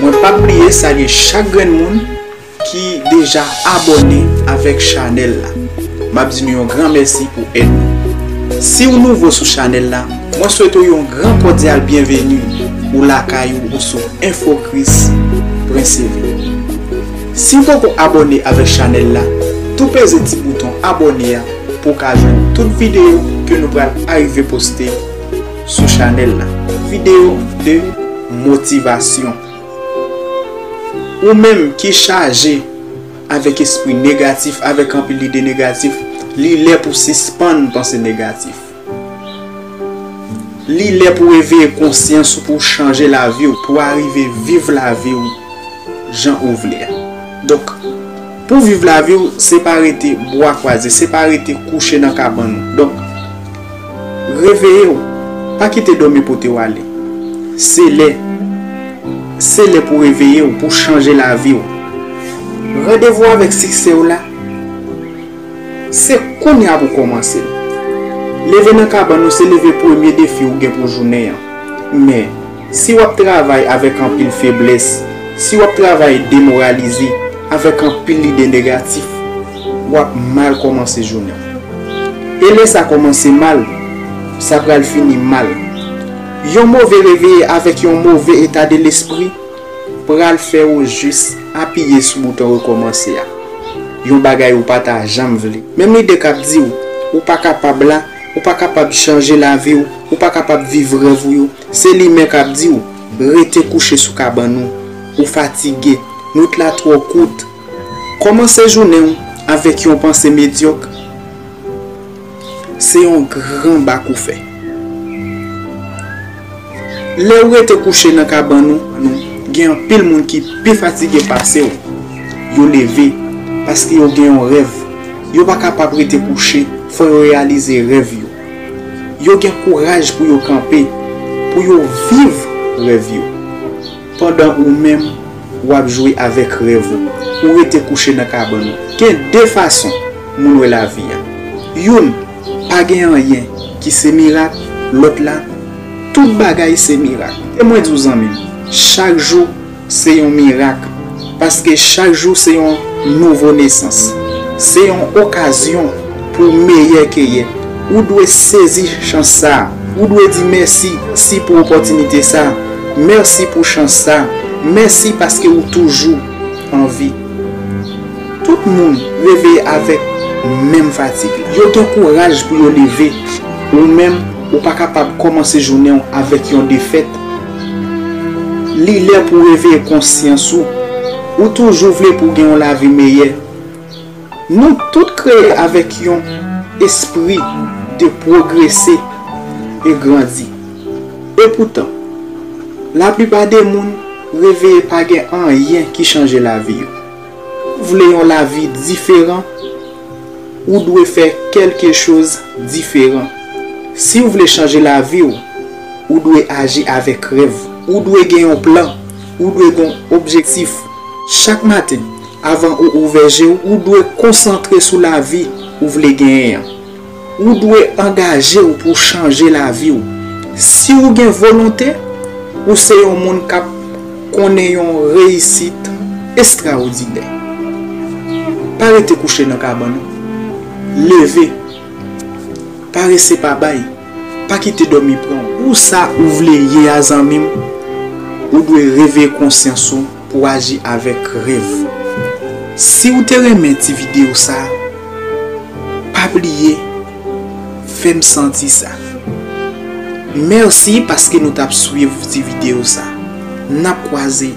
Mwen pap bliye salye chak grenn moun ki deja abòne avèk chanèl la map di nou yon gran mèsi pou èd nou siw nouvo sou chanèl la mwen swete w yon gran kòdyal byenveni ou lakay ou ou sou infokris princevy siw poko abòne avèk chanèl la tou peze ti bouton abòne a pou w ka jwenn tout videyo ke nou pral arive poste sou chanèl la. Video de motivasyon. Ou menm ki chaje avèk espri negatif, avèk anpil ide negatif, li lè pou sispann panse negatif. Li lè pou eveye konsyans ou pou chanje lavi ou, pou arive viv lavi ou jan ou vle a. Donk. Pou viv lavi w se pa rete bwa kwaze, se pa rete kouche nan kabann ou. Donk, reveye w, pa kite dòmi pote w ale. Se lè, se lè pou reveye w, pou chanje lavi w. Randevou avèk siksè w la, se kounya pou kòmanse l. Leve nan kabann ou se leve premye defi ou gen pou jounen an. Men. Si w ap travay avèk anpil feblès, si w ap travay demoralize, avèk anpil lide negatif, w ap mal kòmanse jounen w. E lè sa kòmanse mal, sa pral fini mal. Yon move reveye avèk yon move etadelespri pral fè ou jis apiye sou bouton rekòmanse a, yon bagay ou pa ta janm vle. Menm lide k ap di w ou pa kapab la, ou pa kapab chanje lavi w, ou pa kapab viv rèv ou yo, Se li men kap di w, rete kouche sou kabann ou, ou fatige, nwit la twò kout. Kòmanse jounen w avèk yon panse medyòk, se yon gran bak ou fè. Lè ou rete kouche nan kabann ou, gen anpil moun ki pi fatige pase w, yo leve, paske yo gen yon rèv, yo pa kapab rete kouche, fò yo reyalize rèv yo. Yo gen kouraj pou yo kanpe, pou yo viv rèv yo. Pandan ou menm, w ap jwe avèk rèv ou, ou rete kouche nan kabann ou. Gen de fason moun wè lavi a. Youn, pa gen anyen ki se mirak, lòt la, tout bagay se mirak. Kite mwen di w zanmi m, chak jou, Se yon mirak, paske chak jou se yon nouvo nesans. Se yon okazyon pou w meyè ke yè. Ou dwe sezi chans sa. Ou dwe di mèsi si pou opòtinite sa. Mèsi pou chans sa. Mèsi paske ou toujou an vi. Tout moun reveye avèk menm fatig la. Yo gen kouraj pou yo leve. Ou menm, ou pa kapab kòmanse jounen w avèk yon defèt. Li lè pou w reveye konsyans ou. Ou toujou vle pou w gen yon lavi meyè. Nou tout kreye avèk yon espri de pwogrese e grandi. Epoutan, laplipa de moun reveye pa gen anyen ki chanje lavi yo. Ou vle yon lavi diferan? Ou dwe fè kèlke choz diferan. Si w vle chanje lavi w, ou dwe aji avèk rèv. Ou dwe gen yon plan. Ou dwe gen yon objektif. Chak maten, avan ou ouvè je w, ou dwe konsantre sou lavi ou vle genyen an. Ou dwe angaje w pou chanje lavi w. Si ou gen volonte, ou se yon moun k ap konnen yon reyisit estrawodinè. Pa rete kouche nan kabann ou. Leve! Parese pa bay! Pa kite dòmi pran w! Pou sa ou vle ye a zanmi m, ou dwe reveye konsyans ou. pou aji avèk rev. Siw te renmen ti video sa pa bliye fèm santi sa. Merci paske nou tap swiv ti video sa. Nap kwaze.